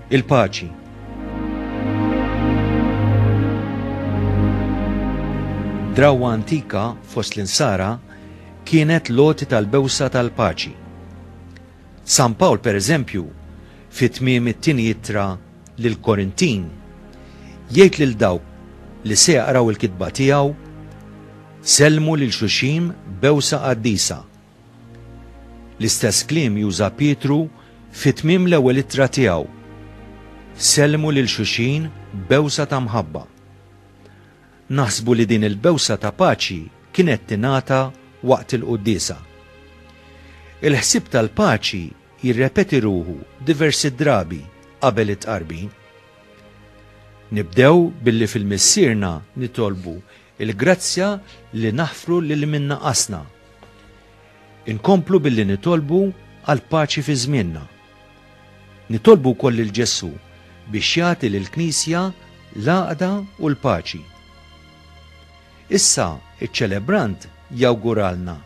il-paċi. Drawa antika fost l-insara kienet loti tal-bewsa tal-paċi. San Pawl, per eżempju, fit tmiem it-tieni jittra lil Korintin, jgħid lil dawk li se jaqraw il-kitba tiegħu, sellmu lil xuxim bewsa qaddisa L-istess kliem juża Pietru fi tmiem l-ewwel ittra tiegħu, Sellmu lil xulxin b'bewsa ta' mħabba. Naħsbu li din il-bewsa ta' paċi kienet tingħata waqt il-quddiesa. Il-ħsieb tal-paċi jirrepeti ruħu diversi drabi qabel it-Tqarbin. Nibdew billi fil-Missierna nitolbu Il-grazzja li naħfru lil min naqasna. Inkomplu billi nitolbu għal paċi fi żmienna. Nitolbu wkoll lil Ġesù biex jagħti lil Knisja l-għaqda u l-paċi. Issa iċ-ċelebrant jawguralna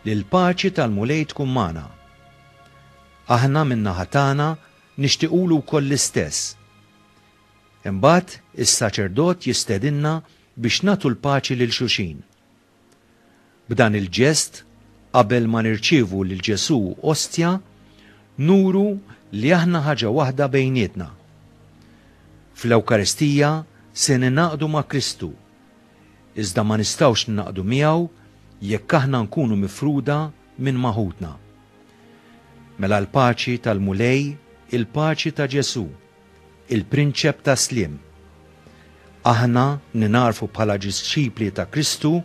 li l-paċi tal-Mulej tkun magħna. Aħna min-naħa tagħna nixtiqulu wkoll l-istess. Imbagħad is-saċerdot jistedinna biex nagħtu l-paċi lil xulxin. B'dan il-ġest, qabel ma nirċievu lil Ġesù ostja, nuru li aħna ħaġa waħda bejnietna. Fl-Ewkaristija se ningħaqdu ma' Kristu, iżda ma nistgħux ningħaqdu miegħu jekk aħna nkunu mifruda minn ma' ħutna. Mela l-paċi tal-Mulej, il-paċi ta' Ġesù, il-Prinċep tas-Sliem. Aħna ningħarfu bħala ġisċipli ta' Kristu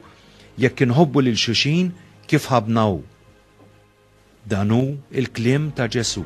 jekk inħobbu lil xulxin kif ħabbna hu. Dan hu l-kliem ta' Ġesù.